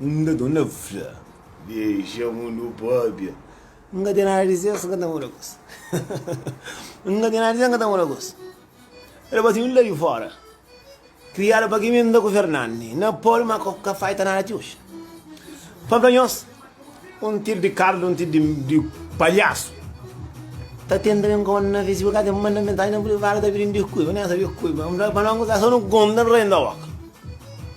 N ka ten nada pa fla. Dexa mundu pâpia. N ka ten nada dizê, si N ka ta muda kos. N ka ten nada dizê, N ka ta muda kos. El é batidu la di fóra. Kriadu pa Kimenta ku Fernandi, na Poli, má ka falta nada ti oji. Pa Blanhos, un tidu di kardu, un tidu di palhasu. Ta tenta ben kónta na Facebook, ka ten manda mensajin na privadu ta pidi-m diskulpa. N ka ta sabe kuba. N fla, pa no gozá, sô nu konta, N renta óka.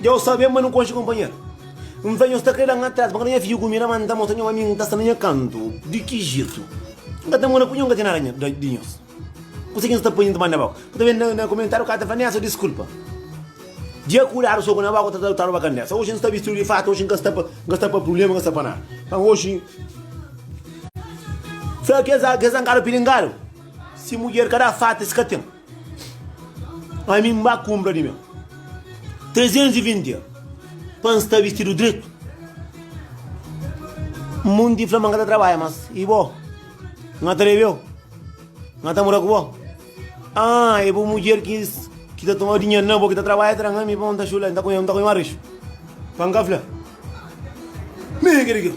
Dja N sabe ma nu konxe konpanheru N fla nhos ta kre da-m atrás Pankada nha figu mi ramanta Mostra nha ami N ta sta na nha kantu Di ki jetu N ka ta mora ku nho N ka ten nada nha di nhos Kuzê ki nhos ta poi N ta manda bá Ku ta ben na komentariu Ka ta fla nesa diskulpa Dja kudadu soku na boka Ta roba kandesa Oxi N sta bistidu di fata Oxi N ka sta pa N ka sta pa prubléma N ka sta pa nada Nton oxi Fla kes kes ankadu pilingadu Si mudjer ka da fata es ka ten. Ami N ba kunpra di meu. Trezentus i vinti dia pa N sta bistidu dretu. Munti fla ma N ka ta trabadja mas. I bo? N ka ta lebeu? N ka ta mora ku bo? Ah, e bu mudjer ki ta toma dinheru na bo, ki ta trabadja tra ami pa N ta xula, N ta konxi un arixu pa N ka fla. Mi ki di kil?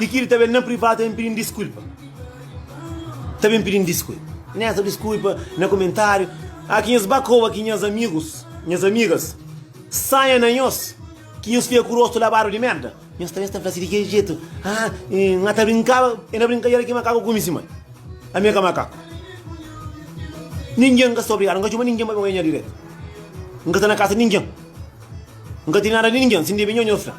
I kil ta ben na privado ta ben pidi-m diskulpa. Ta ben pidi-m diskulpa. Nesta diskulpa na komentáriu. A ki nhos ba koba ki nhos amigus, nhos amigas, sanha na nhos ki nhos fika ku rostu labadu di merda, nhos ta ben sta fla si di kel jetu, Ah, N ta brinkaba, e na brinkadeira ki makaku kume si mai. Ami ka makaku. Ningin ka sta obrigadu, N ka txoma ningin pa ben odja nha diretu. N ka sta na kasa di ningin. N ka ten nada ni ningen, si N debe nhonhos la.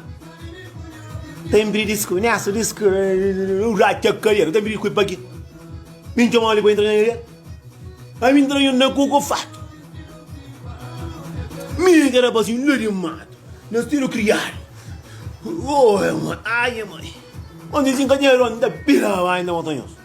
N ta inpidi disku, nessa disku eu ratxa kadeira, ta inpidi kui paki mi ntxoma ali pa intra na area, ami intra nhon na koko fatu, mi ka rapazinhu la di matu, na sedu kriadu, oh, é moi, ai é moi, onde si N ka ten ron, N ta pira bai, N ta mostra nhos.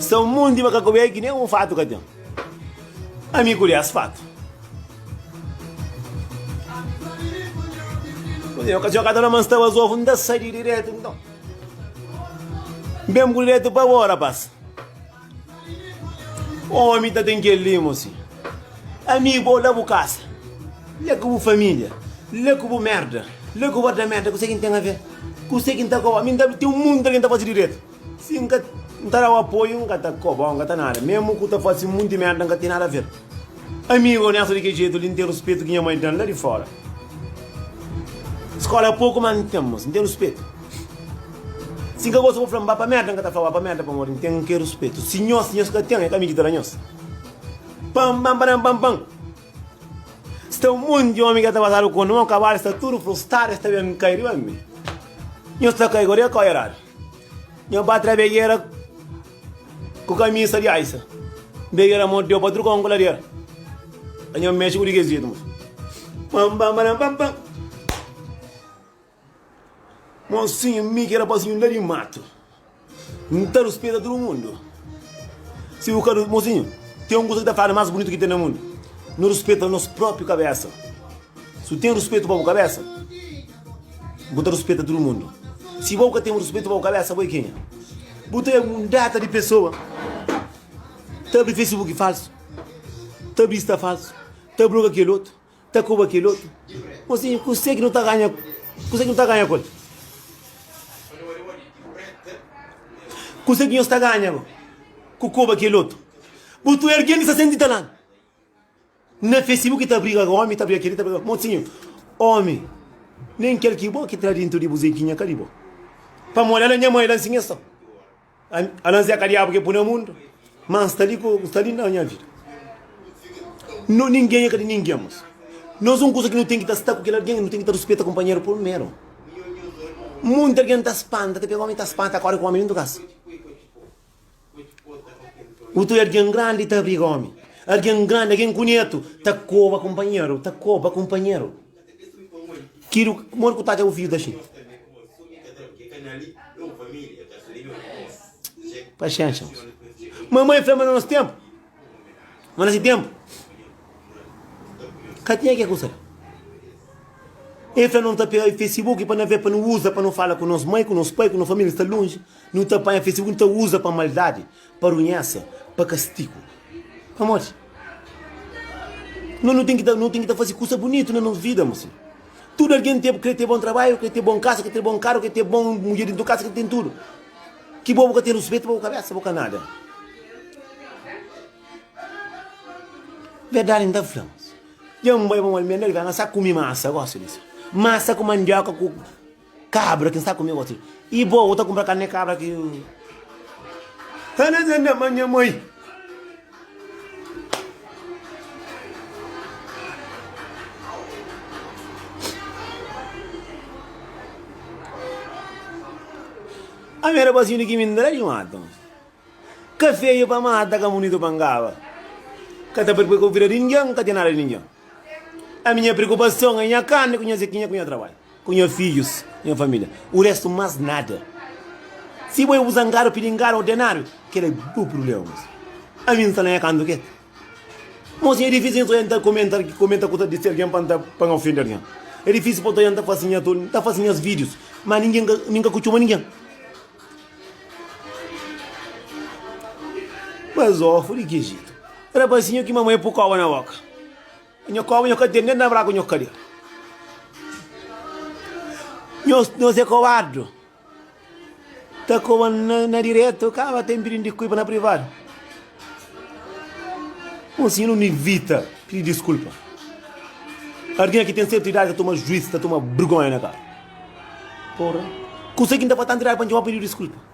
Sta un monti ma ka kobe ki nen un fatu ka ten. Ami ku des fatu. Kuzê, okasiyon ka ta na ma nstaba zovu, nta sai di diretu nton. Nbem ku diretu pa bo, rapaz. Omi ta ten kel li mo si. Amigu ou la bu kasa. La ku bu familia. La ku bu merda. La ku bu otra merda kuse ki n'ten aver. Kuse ki n'ta koba. Mi n'ta ten munta ki n'ta fasi diretu. Si n'ka n'ta dau apoiu n'ka ta kobau n'ka ta nada. Memu ku ta fasi munti merda n'ka ten nada aver. Amigo, nessa di ke jeito li, n'ten ruspeto ki nha mãe dan la di fora. Escola é pouco, mas n'ten, moço, n'ten ruspeto. Si n'ka gosta bo fla-m ba pa merda, n'ka ta fla ba pa merda pamodi n'ten ke ruspeto. Si nhos, nhos ka ten, é ka mi ki ta da nhos. Pam, pam, param, pam, pam. Sta un monte di omi ke ta pasadu konta, ma kabalu sta tudu frustadu, es ta ben kai riba mi. Nhos ta kai kodi? Kau eradu. Nha patria bejera. Ku kamisa di aisa. N bege na mon teu pa truka un kuladera. Ka nha mexe ku di kes jetu mos. Pam pam param pam pam. Mosinhu mi ki rapazinhu la di matu. N ta ruspeta tudu mundu. Si bu ka. Mosinhu, ten un kusa ki ta faladu mas bunitu ki ten na mundu. Nu ruspeta nos propi kabesa. Si bu ten ruspetu pa bu kabesa. Bu ta ruspeta tudu mundu. Si bo ka ten ruspetu pa bu kabésa, bo é kenha? Bu ta é mundata di pesoa. Ta abri Facebook falsu, ta abri Insta falsu, ta bloga kel otu, ta koba kel otu. Mosinhu, kuse ki nu ta ganha, kuse ki nu ta ganha ku el? Kuse ki nhos ta ganha ku koba kel otu? Bu ta é algen ki sta sen tinta lanu. Na fé, si bu ki ta briga ku ómi ta briga ku kel ki ta briga ku mosinhu, ómi, nen kel ki bo ki tra dintu di bu zeginha ka di bo. Pamodi ala nha mai la nsinha sta. Ala nzê ka diabu ke pui na mundu, ma nsta li ku nsta li na nha vida. No ningen ka di ningen mas nos un kusa ki no ten ki ta sta ku kel algen, no ten ki ta ruspeta kunpanheru purmeru. Monti algen ta spanta, ta pega ómi ta spanta kóre ku ómi dintu kasa. Utu algen grandi ta abriga omi. Algen grandi, algen kunetu, ta koba kunpanheru, ta koba kunpanheru. Kilu, modi ku ta atxa bu fidju ta xinti? Paxénxa, manman fla ma na nos tenpu. Má na se ténpu, ka tinha kes kusa li. El fla, Nu ta pega Facebook pa nu avê, pa nu uza pa nu fala ku nos mai, ku nos pai, ku nos família ki sta lonji. Nu ta panha Facebook, nu ta uza pa maldadi, pa runhésa, pa kastigu. Pamodi? Nós nu ten ki ta nu ten ki ta faze kusa bunitu na nos vida, mon senhor. Tudu algen ta krê ten bon trabadju, krê ten bon kasa, krê ten bon karu, krê ten bon mudjer dentro di kasa, krê ten tudu. Ki bo bu ka ten ruspetu pa bu kabesa bu ka nada verdadi n ta fla dja n bai pa mal menda riba n sa kumi masa gosi di si masa ku mandioka ku kabra ki n sa kumi gosi i bo bu ta kunpra karni di kabra ki. Ami era basinho de kimi ndra de mata Ka feio pa mata, ka bonito pa ngaba Ka ta preocupa ku vida de ninguém, ka ten nada de ninguém Ami nha preocupação é nha carne ku nha zequinha ku nha trabalho Ku nha fidjus y nha família. O restu más nada. Si bo é bu zangadu pidi ngada o denáriu, kel-la é bu prubléma mos. Ami n sa lanha kantu ke. Mos nha é difísil nha ta oiá n ta komenta komenta kuza di algen pa n ta pa n ofende algen. É difísil pa ta oiá n ta fase nha toli, n ta fase nhas vídius, má ningen ka nin ka ku txoma ningen. Mas ôfu di ki jetu? Rapazinhu ki mama é pukoba na boka. Nho koba nho ka ten nen nabra ku nho kadia nho zé kobadu ta koba na diretu kaba ten pidi di kuipa na privadu un sinu ni vita pidi diskulpa ardia ki ten sertu idadi ta tuma juiz ta tuma brgonha na kaba porra kusa ki nta patanta idadi pa nho pidi diskulpa.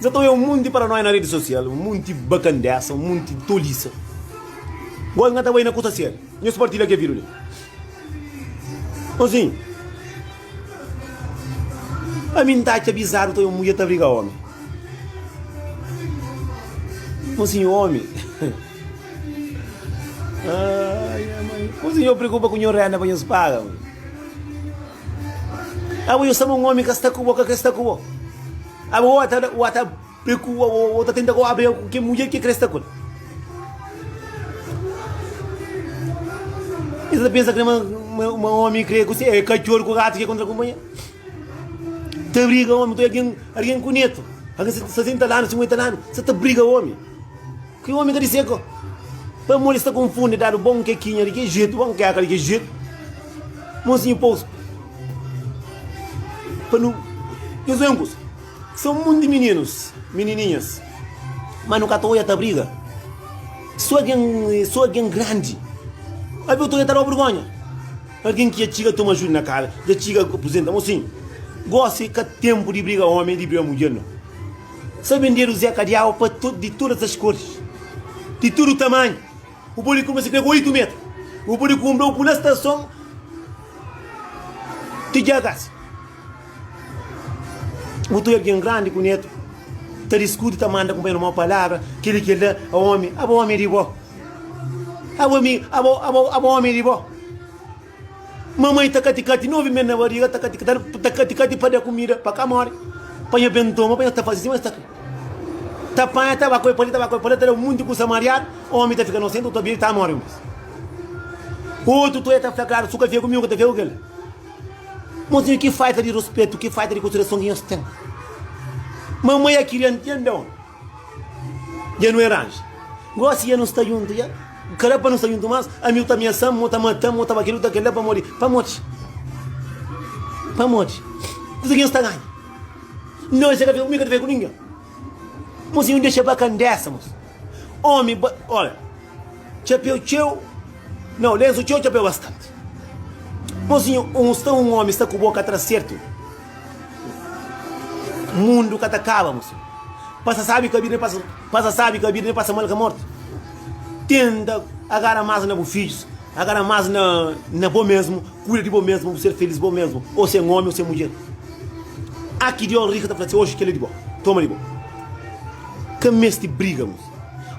Nsa ta oia un monti paranóia na redi sosial, un monti bakandesa, un monti tolisa. Gósi nha ta bai na kusa sério, nhos partilha kel vidu li. Nton, ami N ta atxa bizadu ta oia un mudjer ta briga ómi. Nton, si nho ómi. Nton, nho preokupa ku nho rénda pa nhos paga. Abo yo saba un omi ka sta ku bo, ka kre sta ku bo. Abo o ta, o ta prekua, o ta tenta kua briga ku ke mudjer ke kre sta ku el. E ta pensa kre ma, ma omi kre ku se, e katxor ku gatu ke kontra kunpanher. Ta briga omi, ta algen, algen ku netu, algen 60 lanu, 50 lanu, sa ta briga omi. Ki omi ta dise ko? Pamodi es ta konfundi dadu bon kekinha di ki jetu, bon keka di ki jetu. Monsinhu Pouso, pa nu, nhos venkus, se un mundi mininus, minininhas, ma nu ka ta oia ta briga. So algen, so algen grandi, avi otu oia ta dau bergonha. Algen ki dja txiga toma ajuda na kasa, dja txiga apuzenta, monsinhu, gosi ka tenpu di briga omi, di briga mudjer no. Sa bendedu Zé kadiau pa di todas as koris, di tudu tamanhu, bu podi kumesa pega oitu metra, bu podi kunbrau ku la stason di Giagasi. Bu ta oi algin grandi ku netu ta diskuti, ta manda kunpanheru mau palabra, kili ki el da a omi, aba omi di bo, aba omi di bo. Mamai ta kati kati novi mes na bariga ta kati ta kati kati pa da kumida pa ka mori pa nha ben toma pa nha ta fasi sima es ta kri ta panha ta ba koi pali ta ba koi pali ta da un munti kusa mariadu omi ta fika nosentu otu abiri ta mori un bes otu to e ta fla klaru su ka fia ku mi ku ta fia ku kel mozinhu ki falta di ruspetu ki falta di konsiderason ki nhos ten mamai a kiria ntende omi. Dja nu era anju. Gósi dja nu sta djuntu dja. Ka da pa nu sta djuntu más. Ami bu ta amiasa-m, bu ta mata-m, bu ta ba kel-li, bu ta kel-la pamodi. Pamodi? Pamodi? Kuza ki nu sta ganha? Nau, se ka fika, mi ka ta fika ku ningen. Mos i nu dexa pa kandesa, mos. Ómi ba. Ora, txapeu txeu. Nau, lensu txeu, txapeu bastanti. Mozinhu, un sta un ómi sta ku boka atrás, sertu? Mundu ka ta kaba, mosi. Pasa sabi ka bida, pasa, pasa sabi ka bida, pasa mal ka morti. Tenta agara mas na bu fijus, agara mas na, na bo mesmu, kuida di bo mesmu, bu ser felis bo mesmu, ou sen omi ou sen mudjer. A ki Dios rica ta fla si oji kel-li di bo, toma di bo. Ka mesti briga, mosi.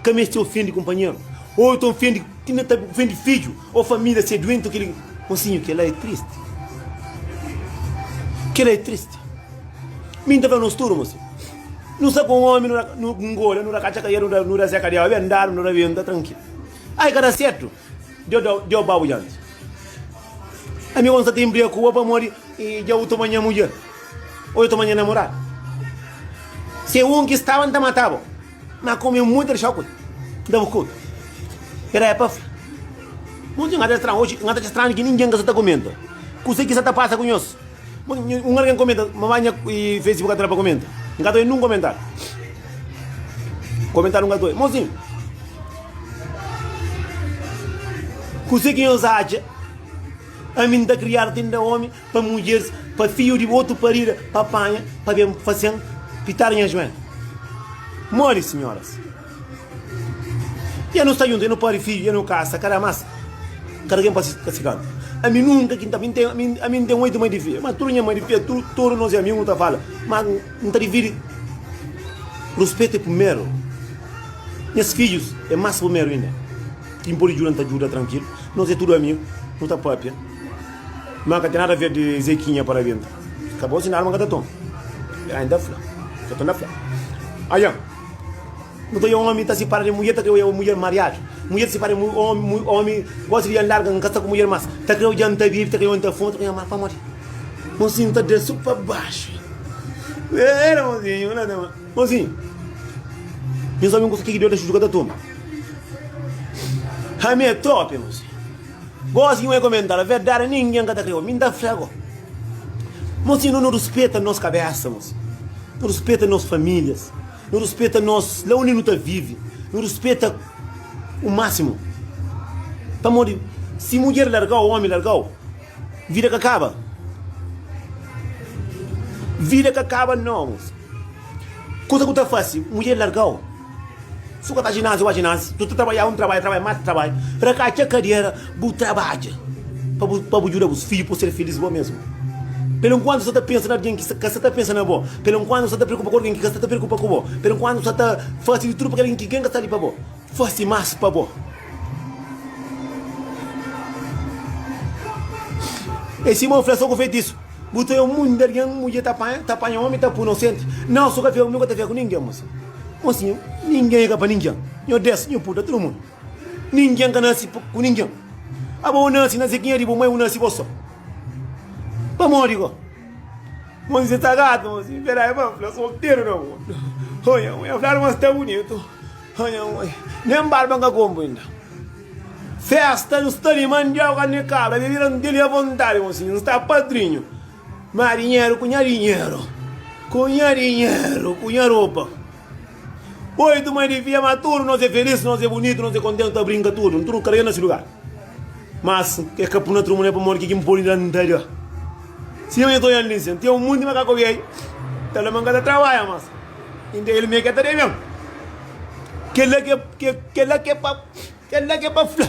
Ka mesti ofendi kunpanheru. Ou ta ofendi, ti na ta ofendi fiju, O família ser duenti o kel ki. Mosinhu kela é tristi kela é tristi mi n ta fla nos tudu mosinhu nu sta ku un omi nu ta nu ngola nu ta katxa ka el nu ta seka diaba ben dadu nu ta ben ta trankilu ai ka ta sertu deus da deus ba bu dianti ami ku n sta ta inbriga ku bo pamodi dja bu toma nha mudjer o dja toma nha namoradu se un ki staba n ta mata bo Má komu é muita dixau kue ki ta bu kome, era é pa fla. Bom dia, ngata estranhu oxi, ngata atxa estranhu ki ningen ka sa ta komenta kuse ki sa ta pasa ku nhos. Un algen komenta ma ba nha facebook ka ta da pa komenta, ngata oxi nen un komentáriu. Komentáriu ngata oxi, Mozinhu, kuse ki nhos atxa? Ami N ta kriadu ti N da omi, Pa mudjeris, pa fidju di otu parida, pa panha, pa ben fasen pitar nha juel. Modi, sinhoras? Ia nu sta djuntu, ia nu pari fidju, ia nu kasa, ka da mas, ka da ken pa si, pa si kantu. Ami nunka ki N ta fla, mi N ten, ami, ami N ten oitu mai di fia, ma tudu nha mai di fia, tu, tudu nos é amigu, nu ta fala, ma N ta dividi, ruspetu é primeru, nhas fidjus é mas primeru inda, ki N podi djuda, N ta djuda trankilu, nos é tudu amigu, nu ta papia. Má ka ten nada ver di Zekinha pa Rabenta. Ka bo sinal ma ka ta ton. Ela inda fla. Ka ton ta fla. Aja, nu ta omi ta sipara di mudjer, ta kre oja mudjer mariadu. Mudjer ta sipara di omi, omi gosi di dja N larga, N ka sta ku mudjer más. Ta kre oja N ta bibi, ta kre oja N ta fuma, ta kre oja N mara. Pamodi? Mozinhu ta da su pa baxu. Era mozinhu, na ta. Mozinhu, nhos omi gosi ki ki di oda xuju ka ta toma. Ami é trope, mozinhu. Gósi un é komenta, Fla verdadi, ningen ka ta krê-u. Mi N ta fla-u, Mos inda nu ruspeta nos kabésa, mos. Nu ruspeta nos famílias. Nu ruspeta nos, la undi nu ta vive. Nu ruspeta ku másimu. Pamodi si mudjer larga-u, ómi larga-u, vida ka kaba? Vida ka kaba nau, mos. Kuza ku ta fase mudjer larga-u? Suka ta ginasi wa ginasi tu ta trabadja un trabadja trabadja mas trabadja ra ka txa kadiera bu trabadja pa bu djuda bus fidju po ser filis bo mesmu pero enkuantu sa ta pensa na algin ki ka sa ta pensa na bo pero enkuantu sa ta preokupa ku algin ki ka sa ta preokupa ku bo pero enkuantu sa ta fasi di tudu pa kel algin ki ken ka sta li pa bo fasi mas pa bo e sima u fla so ku fetisu. Bu ta é un munde algen mudjer ta panha ta panha omi ta pu inosenti nau su ka fia ku mi ku ta fia ku ningen mosi mosi nhu ningen é ka pa ningen nhu des nhu puta tudu mundu ningen ka nasi ku ningen aba u nasi na zikinha di bu mai u nasi bo so pamodi ko mosi si ta gatu mosi pera e ba fla solteru na bo oia oia fladu ma sta bunitu oia oia nem barba nka konpu inda Festa nu sta di mandioka karni di kabra bebida nu ten-li avontadi mosinhu nu sta padrinhu ma dinheru ku nha dinheru ku nha dinheru ku nha ropa oitu mai di fia ma tudu nos é felis nos é bunitu nos é kontentu nu ta brinka tudu nu tudu nu karegadu na si lugar mas e ka puna trumu ne pamodi ke ki n poi la n ta da sima nha ta oian li sen ten un munti makaka obi ai ta fla ma n ka ta trabadja mas inda el mei ke ta da ben kela ke kela ke pa. Kel-la ki é pa fla.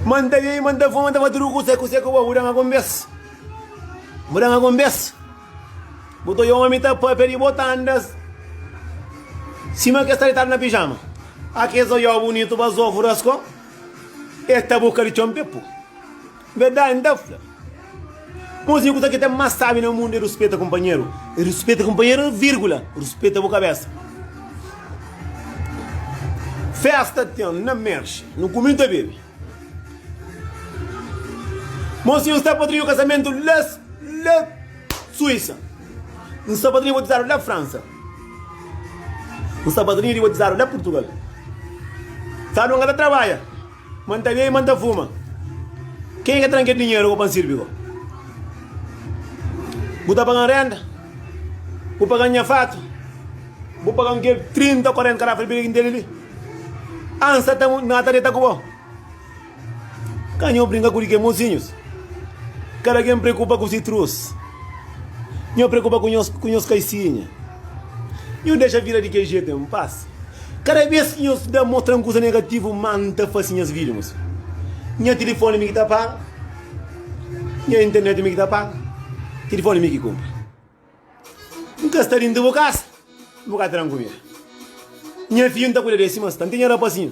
Manda mei, manda fó, manda pa tudu ku sé, ku sé ku bo. Bu da-m algun bes? Bu da-m algun bes? Bu ta odja ómi ta pâpia di bo, ta anda sima ki es ta ditadu na pijama. A kes oió bunitu, ba zóvu raskó, es ta buka di txon pepu. Verdadi N ta fla, Kunsinha ku sa ki ten más sábi na mundu é ruspeta kunpanheru, i ruspeta kunpanheru é vírgula, ruspeta bu kabésa. Fésta ten na Merxi, nu kume, nu ta bebe. Monsinhu N sta padrinhu kasamentu la la Suísa, N sta padrinhu batizadu la Fransa, N sta padrinhu di batizadu la Purtugal. Sábi, N ka ta trabadja. Ma N ta bebe, ma N ta fuma. Kenha ki ta da-m kel dinheru pa N sirbi bo? Bu ta paga-m renta, bu paga-m nha fatu, bu paga-m kel trinta, kuarenta garrafa di bebida ki N tene li. Antis ta ta N ta deta ku bo. Ka nho brinka ku ke mosinhus. Kada ken preokupa ku si trus. Nho preokupa ku nhos kaisinha. Nho dexa vida di kel jetu en pas. Kada bes ki nhos da mostra-m kuza negativu, má N ta fase nhas vídiu más. Nha tilifóni mi ki ta paga. Nha internet mi ki ta paga. Tilifóni mi ki kunpra. N ka sta déntu di bu kasa, bu ka tra-m kumida. Nha fidju N ta kuida di es sima es ta. N ten nha rapazinhu.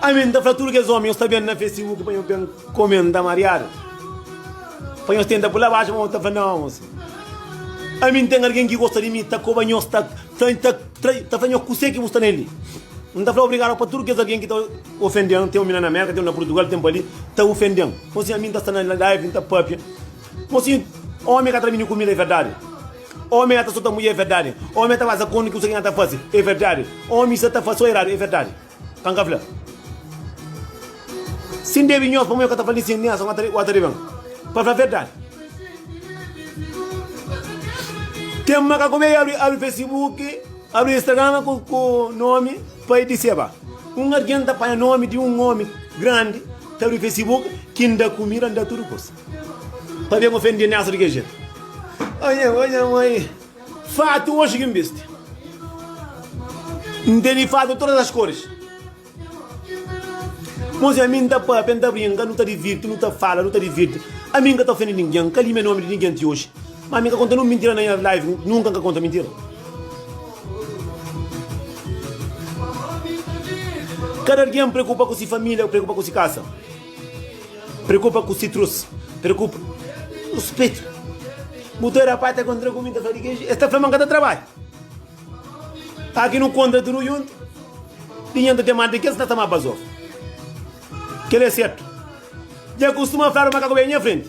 Ami n ta fla tudu kes omi, nhos ta ben na festa i uki pa nhos ben kome n ta mariadu, pa nhos tenta pula baxu, ma nhos ta fla, Nau, mosu, ami n ten algen ki gosta di mi, ta koba nhos, ta fla nhos kuse ki bu sta na el-li. N ta fla obrigadu pa tudu kes algen ki ta ofende-m, ten un na Mérka, ten un na Purtugal, ten pa li, ta ofende-m. Nton, sin ami, n ta sta na laivi, n ta pâpia. Kuma sin omi ka tra minhu kumida e verdadi? Omi na ta sota mudjer e verdadi? Omi na ta fazi akordu kusa ki na ta fazi e verdadi? Omi sa ta fazi so eradu e verdadi? Ka N ka fla sin debi nhos pamodi N ka ta fla ninsin, nin ason ka ta riba ta riba N pa fla verdadi. Ten makaku be abri abri fesibuki, abri instagrama ku ku nomi pa e diseba. Un algen ta panha nomi di un omi grandi ta abri fesibuki ki N da kumida, N da tudu kusa. Pabia ma ofendi Nélson di kel jetu? Ô nha mãe, ô nha mãe, fatu oxi ki N bisti. N tene fatu di todas as cores. Mozinha, ami N ta pâpia, N ta brinka, nu ta divirti, nu ta fala, nu ta divirti. Ami N ka ta ofendi ningen, N ka limia nomi di ningen ti oxi. Má ami N ka konta nun mintira na nha live, nunka N ka konta mintira. Kada algen preokupa ku si família, preokupa ku si kasa. Preokupa ku sitrus, preokupa ku spetu. Bu ta rapaz ta kontra ku mi ta fala ke es ta fla ma ka ta trabadja. Aki nu konta tudu juntu, di nha ta ten mal di kes ta sama bazof. Kel é sertu. Dja kustuma fla ma ka ku ben nha frenti.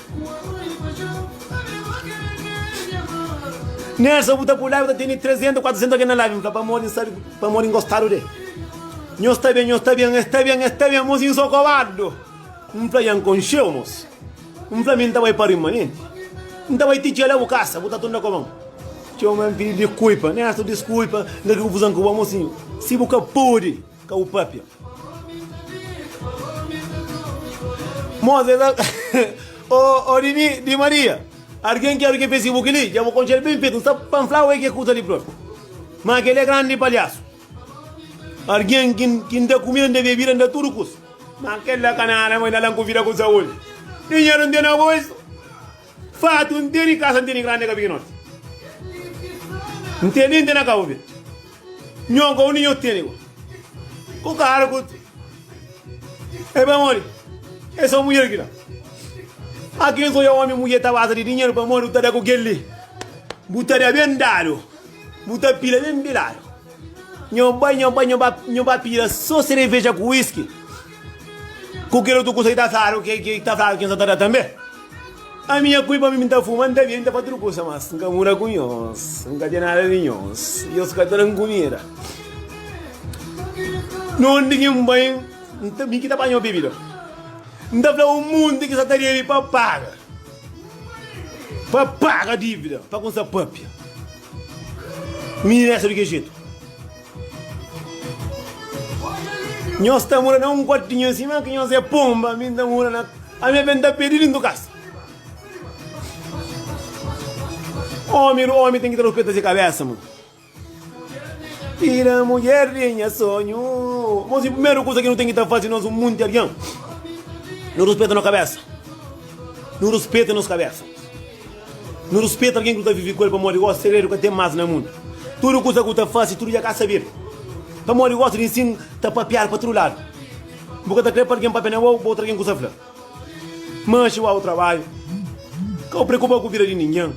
Nhas sa bu ta pula i bu ta tene 300, 400 algen na labi, bu fla pamodi N sabe, pamodi N gostadu de. Nhos sta ben, nhos sta ben, es sta ben, es sta ben, mos insokobadu. N fla nha N konxeu mos. N fla mi N ta bai pa rimanenti. N ta bai ti txeu la bu kasa, bu ta tunda koma N. Txeu ma N pidi dikulpa, nhas tu diskulpa, n ka kri konfuzon ku bo, mosinhu. Si bu ka podi. Ka u papia. Moza esa Ô ô di mi di Maria Argen ki argen Facebook li Dja bu konxel ben fetu N sta pa N flau e ke kusa li propi Ma kel e grandi palhasu Argen ki N ki N da kumida N da bebida N da tudu kusa Ma kel la ka nada ma i na la N ku vida ku saúdi Dinheru N tene agoisu Fatu N tene kasa, N tene grandi ka pikinoti N tene, N tene ka obi Nho ka undi nho tene ku Ku karu ku E pamodi E so mudjer kila A ken so ya omi mudjer ta basa di dinheru pamodi bu ta da ku kel li Bu ta da ben dadu Bu ta pila ben piladu Nho bai, nho bai, nho ba, nho ba pila so sereveja ku whisky Ku kel otu kusa ki ta fladu, ki ki ta fladu ki N sta ta da tanbe? Ami nha kui pa mi, mi N ta fuma, N ta bia, N ta fasi tudu kusa, mas N ka muda ku nhos, N ka ten nada di nhos, i nhos ka ta da-m kumida. Nunde ki N bai, N ta, mi ki ta panha bebida. N ta fla un monti ki sa ta debi pa paga, pa paga dibida, pa ku N sa papia. Mi N resta di ki jetu. Nhos ta mora na un kuartinhu sima ki nhos é ponba, mi N ta mora na. Ami ben ta pedi lintu kasa. Omi di omi ten ki ta ruspeta se kabesa, mon. Tira mulher di nha sonhu. Mon, si primeru kusa ki nu ten ki ta fasi, nos un munti algen, nu ruspeta no kabesa. Nu ruspeta nos kabesa. Nu ruspeta algen ki nu ta vive ku el pamodi gosi segredu ka ten más na mundu. Tudu kuza ki bu ta fase, tudu dja ka sabedu. Pamodi gosi di ensinu ta papiadu pa tudu ladu, bu ka ta krê pa algen papia na bô, ba otu algen kuza fla. Má xigau bu trabadju, ka bu preokupa ku vida di ningen.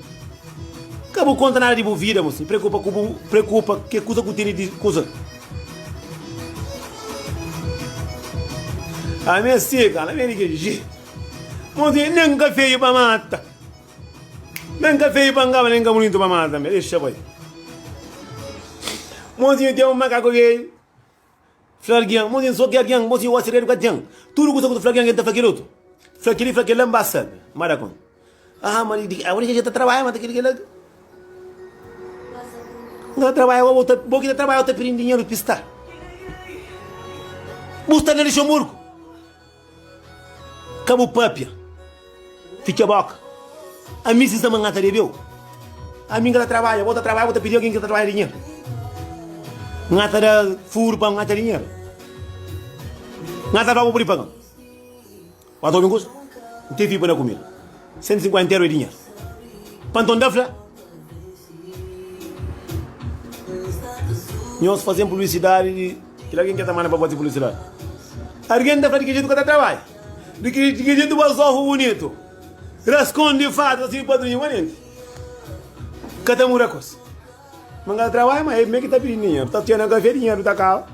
Ka bu konta nada di bu vida, má si preokupa ku bu preokupa ke kuza ki bu tene di kuza. Ami é sika, ala ben di ke. Monsinha, nen ka feio pa mata, nen ka feio pa ngaba, nen ka bonitu pa mata tanbe, dexa bai. Monsinha ten un makaku velhu, fla algen, monsinha N so ki algen, monsinha o segredu ka ten, tudu kusa ku ta fla algen el ta fla kel otu, fla kel-li, fla kel-la, N ba sabe, N ba da konta. Aa, ma di kila, kel-li ka ta trabadja ma ta kel-li, kel-la, N ka ta trabadja gosi, bo ta, bo ki ta trabadja, bo ta pidi dinheru pistá, bu sta na Luxemburgu. Ka bu papia, fitxa boka. Ami si sa ma N ta debeu, ami ka ta trabadja, bo ta trabadja, bo ta pidi algin ki ta trabadja dinheru. N ta da furu pa N atxa dinheru. N ta fla bo, bu pudi paga-m. Ba ta obi un kusa? N ten fi pa N da kumida. Sentu sinkuenta eru é dinheru. Pa nton, N ta fla, Nhos faze-m publisidadi di. Kel algen ki el ta manda pa bota fla si la, Algen ta fla di ki jetu ka ta trabadja? Di ki jetu bu azofa bunitu? Raskonde fadu asi, Padrinhu Manenti ka ta muda kos. Manga ta trabadja, ma e-me ki ta pidi dinheru. Ta txena kafé, dinheru ta kaba.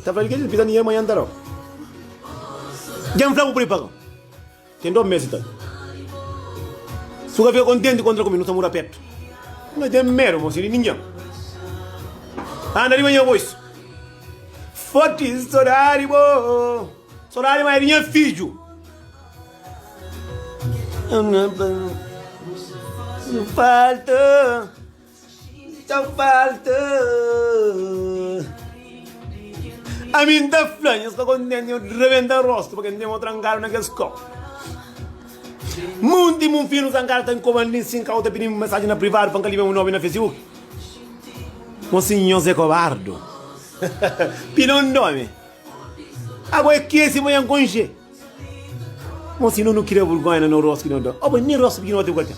Ta fla di ki jetu pisa dinheru manha, nta rau. Dja-m fla bu pripa-m. Tem dó mesi ta Suga fia contente contra comi nu ta muda perto N ka tem medo mosi di ninguem Anda riba nha voz Forte sodade bo Sodade ma é di nha fidjo Falta Txau falta Ami N ta fla nhos ka kontenti Nhos rebenta rostu pa kel nteman trankadu na kel skola Monti mon fia nu sa N ka ta inkoba nin si N ka ota pidi-m mensaji na privadu pa N ka libia mon nomi na fesibuki Mon si nhos é kobardu Pidi-m nomi Agu é kesi ma nha N konxe. Mon si no nu kria vergonha na no rosto ki no da. Oba, nem rosto pequenote eu ka tem.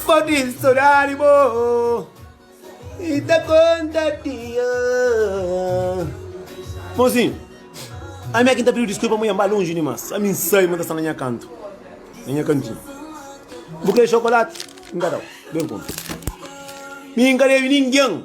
Fadil saudade bo e da conta dia. Mozinho, a minha quinta pediu desculpa, mulher, vai longe demais. A mim sai, mas está na minha canto, na minha cantinho. Vou querer chocolate, engadão, bem conta. Mim encarei ninguém.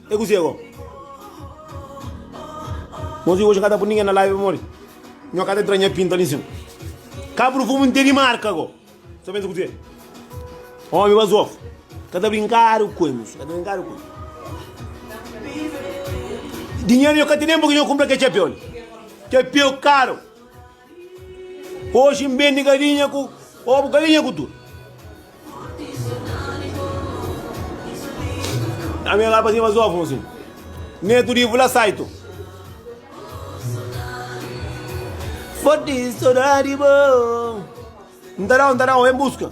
É kuzê agó? Nos di oji N ka ta pui ningen na laivi pamodi Nho ka ta tra nha pinta li nsin Kabru fumu N tene marka agó Sa pensa kuzê? Omi bazof Ka ta brinkadu ku emis Ka ta brinkadu ku emis Dinheru nho ka tene Npaki nho kunpra kel txapeu li Txapeu karu Oji N bende galinha ku obu, galinha ku tudu. A minha lapa sim mas ovum sim. Neto de vula saito. Forte saudade bom. N ta da-u, N ta da-u, en buska.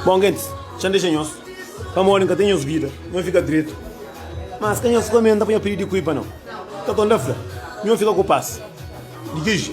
Bon gentis, txeu N dexa nhos, pamodi N ka ten nhos vida, nhos fika dretu. Má si ka nhos kome, N ta panha pidi di kui pa no. Ka ton da fla, Nho fika ku pas. Di ki ji.